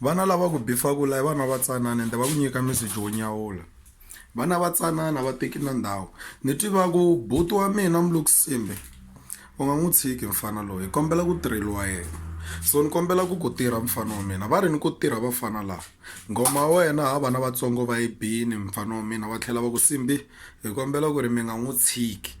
Vana lava ku bifaka la i vana va tsanana ende va ku nyika meseji wo nyawula vana va tsanana va teki na ndhawu ni tivaku buti wa mina mulukusimbe u nga n'wi tshiki mfana loyi hi kombela ku tirheliwa yena so ni kombela ku ku tirha mfana wa mina va ri ni ku tirha vafana lava ngoma ya wena ha vana vatsongo va yi bini mfana wa mina va tlhela va ku simbi hi kombela ku ri mi nga n'wi tshiki.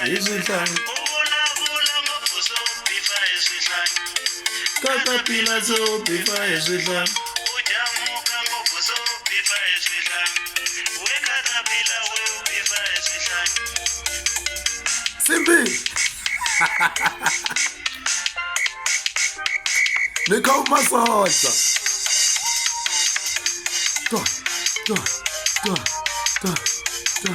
hi swihlaya ka papila swo bifa hi swihlaya simbi ni kha u masoja Go, go, go, go, go.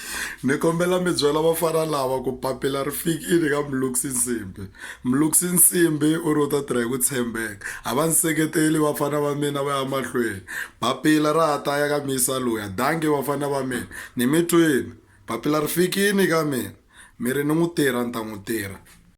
Ni kombela mi byela vafana lava ku papila ri fikile ka Mlungisi Nsimbi. Mlungisi Nsimbi u ri u ta tirha hi ku tshembeka. A va ni seketeli vafana va mina va ya mahlweni. Papila ra ha ta ya ka muyisa luya. Dankie vafana va mina. Ni mi twile. Papila ri fikile ka mina. Mi ri ni n'wi tirha ni ta n'wi tirha.